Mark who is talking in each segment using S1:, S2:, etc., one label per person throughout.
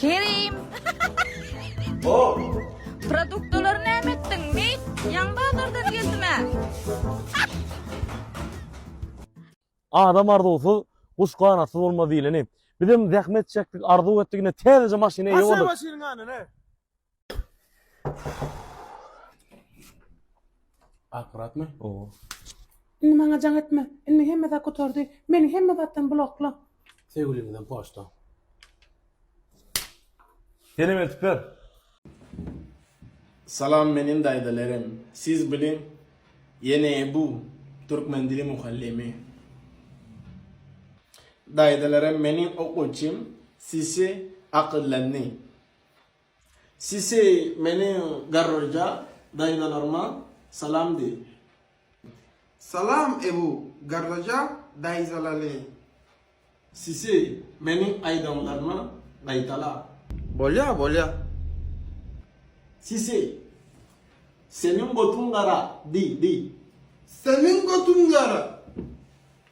S1: Kerim!
S2: Hop!
S1: Produktlary näme etdiň, meýt? Ýaňy bazardan geldim-ä.
S3: Adam arzuwsyz, guş ganatsyz bolmaz diýleni. Bizem zähmet çekdik, arzuw etdik, ine täzeje maşyna eýe bolduk. Basar maşynyň ýanyna.
S2: Akuratmy? Owo.
S3: Indi maňa
S4: jaň etme. Indi hemme zat gutardy. Meni hemme zatdan blokla. Söýgüliňizden
S2: poçta.
S3: Senem eltip ber.
S5: Salam menin daýzalarim siz biliň ýene ebu türkmen dili mugallymy daýzalarim menin okuwçym sisi akyllandy Sisey meniň garryja daýzalaryma salam diý. Salam
S6: Ebu garryja daýzalaly.
S5: Sisey meniň aýdanlarymy gaýtala. Bolýa bolýa. Sisey seniň gotuň gara diý diý. Seniň
S6: gotuň gara.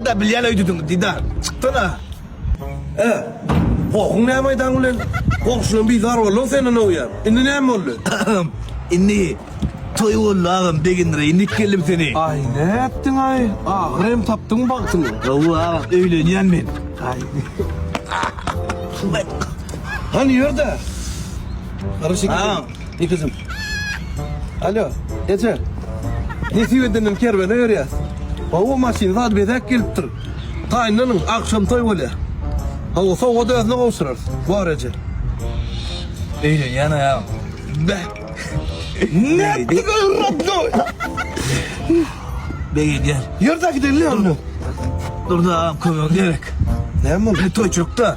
S2: Dida bilýän öýdüdiňiz dida çykdana e gohuň näme aýdaň bilen goňşyňam bizar boldy senden öýýän indi näme boldy agam indi
S7: toý boldy agam begendir indi ikgeldim seni. Aý nätdiň
S2: aý ahyry hem tapdyň bagtyňy. Hawa agam
S7: öýlenýän men. Aý.
S2: Hany ýörde. Agam. Ýe
S7: gyzym.
S2: Alo, eje. Nesip edenini kerwene berýäs. Hawa, maşyn zady bezäp gelipdir. Gaýynlanyň, agşam toý bolýar. Hawa, sowgat özüne gowşurarys. Bor, eje.
S7: Eje, ýene ýaň. Beh.
S2: Nätdi gowrapdy.
S7: Beg edýär. Ýör-de gidelim.
S2: Dur-da,
S7: kömek gerek. Näme boldy?
S2: Toýçukda.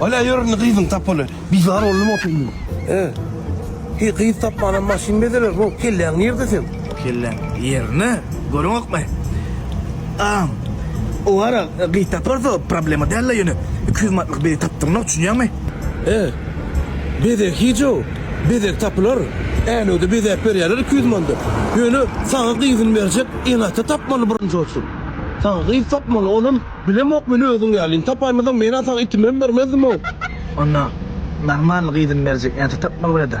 S2: Alä ýöründi gyzyň tapaly. Bizar boldum otuň
S7: diýip. He.
S2: Heý gyz tapmanam maşyn bezeler bol. Kelläň nirde seň? Kelläm
S7: ýerinde. Görüňokmy? Agam, owara gyz taparys-a, problema däl-le ýöne iki ýüz manatlyk bezi tapdyrynok, düşünýäňmi? He.
S2: Bezeg hiç-ow. Bezeg tapylar. Änewde bezäp berýärler iki ýüz manda. Ýöne saňa gyzyny berjek ene-ata tapmaly birinji oçuryn. Saňa gyz tapmaly, olam. Bilemok men özüň ýalyny tapaýmazam menä saňa itimem bermezdimow. Onda
S7: normalny gyzyny berjek erte tapmaly boleda.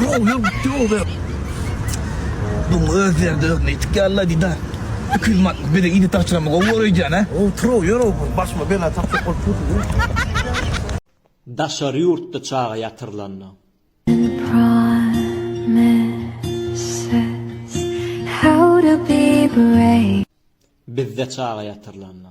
S7: Ýok, ýok, gitdi ol zat. Dum öz ýerinde özüne ýetik ýaly-la diýdi-ä. Iki ýüz manatlyk bezeg iýdi tagçyramy gowy bor öýdýän-ä? Otur-ow, ýör-ow, bir
S2: başyma bela tapjak bolup dursuň-a. Daşary
S5: ýurtda çaga ýatyrylanda.
S8: Bizde
S5: çaga ýatyrylanda.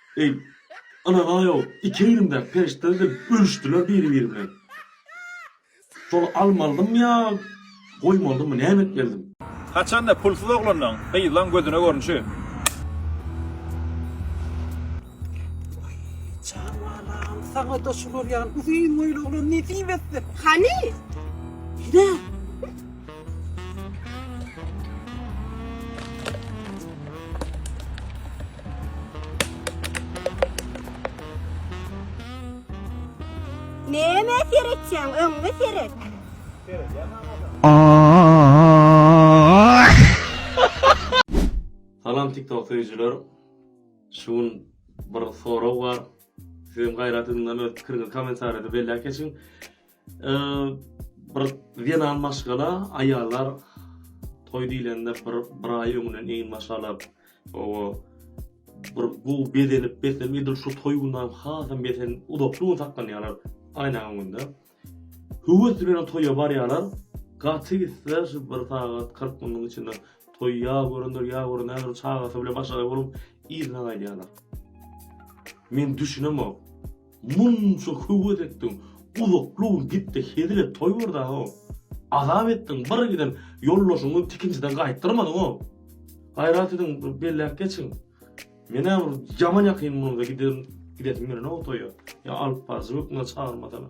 S3: Eý, ynanaý-ow, iki egnimdäki perişdeler gelip ölüşdiler biri-biri bilen. Şol almalydymy ýa goýmalydymy, näme etmelidim? Haçan-da pulsuz
S9: oglanlaň, gyzlaň gözüne görnüşi.
S4: Waý, jan balam, saňa-da şular ýaly uzyn boýly oglan nesip etsin! Hany?
S10: Ine! Näme seretýäň? Öňňe
S3: seret. Salam TikTok söýüjiler. Şu gün bir sorag bar. Sizem gaýrat ediň öz pikiriňizi kommentariýada belläp geçiň. bir zenan maşgala aýallar toý diýlende bir bir aý öňünden eýin maşgalap owa bir bu bezenip bezenip edil şu toý gündan hasam besen uzakly gün saklanýarlar aýna öňünde höwes bilen toýa barýarlar gaty gitse şu bir sagat 40 minutyň içinde toý ýa görendir ýa görendir çagasy bilen başga bolup yzyna gaýdýarlar men düşünemok Munça höwes etdiň, uzakly ugr gitde hezil et toý bar da ho. Azap etdiň, bir giden ýoldaşyňy tikinjiden gaýtdyrmadyň ho. Gaýrat ediň, bir belläp geçiň. Menä bir ýaman ýakyn bolanda giderin, gidesim gelenok toýa. Ýa alyp baryjy hökmünde çagyrmasana.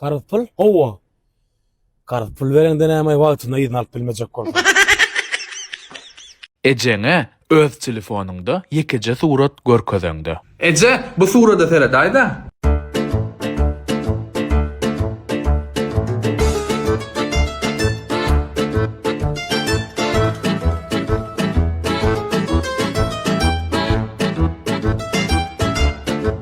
S7: Garz pul? Howwa. Garz pul bereňde näme wagtynda yzyny alyp bilmejek bolsaň.
S11: Ejeňe öz telefonyňda ýekeje surat görkezeňde. Eje, bu
S12: surada seredaýda.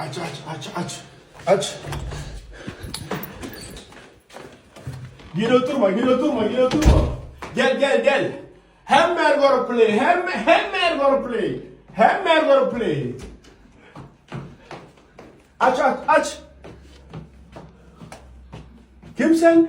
S5: Aç aç aç aç. Aç. Gir oturma gir oturma gir oturma. Gel gel gel. Hem mer görüp play hem hem mer görüp play. Hem mer görüp play. Aç aç aç. Kim sen?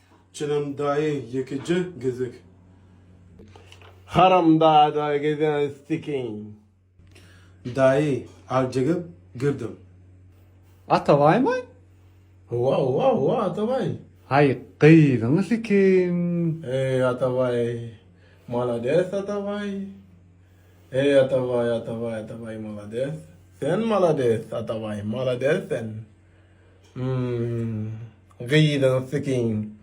S2: Çynan
S5: daýy ýekeje gezek. Haram
S2: dada gezen stikin.
S5: Daýy aljegep girdim.
S7: Atabaýmy? Howa howa
S2: howa Atabaý. Haý
S7: gyzyň sikin. Eý Atabaý
S2: malades Atabaý. Eý Atabaý Atabaý Atabaý malades. Sen malades Atabaý malades sen. Hmmm gyzyň sikin.